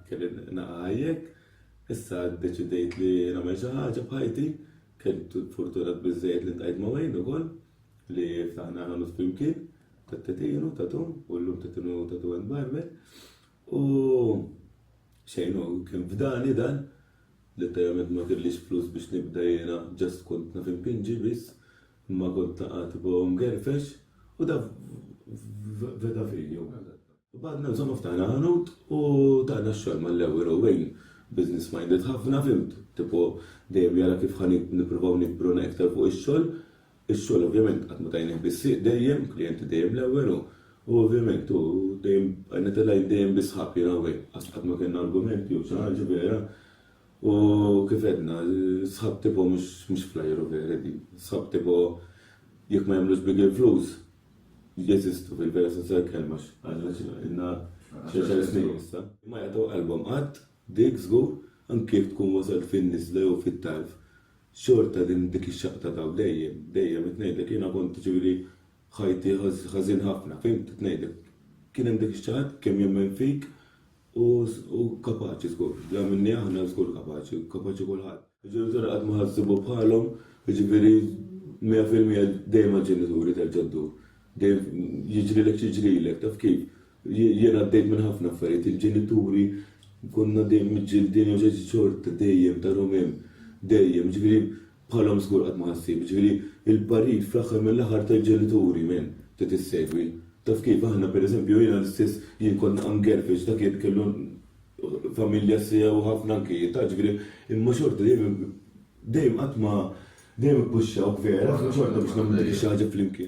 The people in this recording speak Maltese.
Kelli naqajjek, issa ddeċidejt li nagħmel xi ħaġa b'ħajti, kelli fortuna biżżejjed li ntajt ma' Wayne ukoll li ftaħna ħanu flimkien tat-tetinu tatu u llum tetinu tatu and barber u xejn u kien fdani dan li tajament ma kellix flus biex nibda jiena ġast kont naf impinġi biss Imma kont taqa' tipo mgerfex u da veda f'għinju. Badna insomma ftaħna ħanut u tana x-xogħol mal-ewwel u win business minded ħafna fhimt tipo dejjem jara kif ħa nippruvaw nikbru na iktar fuq ix-xogħol. Ix-xogħol ovvjament qatt ma tajnih bis-sieq dejjem, klijenti dejjem l-ewwel u u ovvjament u dejjem bqajna telgħin dejjem bi sħab jiena u win. Qatt ma kellna argumenti jew xi ħaġa vera U kif għedna, sħab tipo mhux flyer u vera din. Sħab tipo jekk ma jagħmlux big il-flus, jeżistu fil-vera sens tal-kelma għax inna xi snin issa. Ma jagħtu qalbhom qatt, dik żgur, anke jekk tkun wasalt fin-niżla jew fit-tarf, xorta din dik ix-xaqta tagħu dejjem, dejjem qed ngħidlek jiena kont jiġifieri ħajti ħażin ħafna, fhimt qed ngħidlek. Kien hemm dik ix-xaqat kemm jemmen fik, U kapaċi żgur, bla minni aħna żgur kapaċi, kapaċi kulħadd. Il-ġenituri qatt ma ħassibu bħalhom, jiġifieri mija fil-mija dejjem mal-ġenituri terġa' ddur. Dejjem jiġrilek x'jiġrilek, taf kif? Jien għaddejt minn ħafna affarijiet, il-ġenituri konna dejjem miġġieldin jew xi xorta dejjem tarhom hemm. Dejjem, jiġifieri Bħalhom żgur qatt ma ħassib, jiġifieri l-parir fl-aħħar mill-aħħar tal-ġenituri minn trid issegwi. Taf kif, aħna pereżempju jiena l-istess jien kont ngerfex dak li kellu familja sew ħafna anki ta' ġifieri imma xorta dejjem dejjem qatt ma dejjem ippuxxawk vera xorta biex nagħmlu dik ix-xi ħaġa flimkien.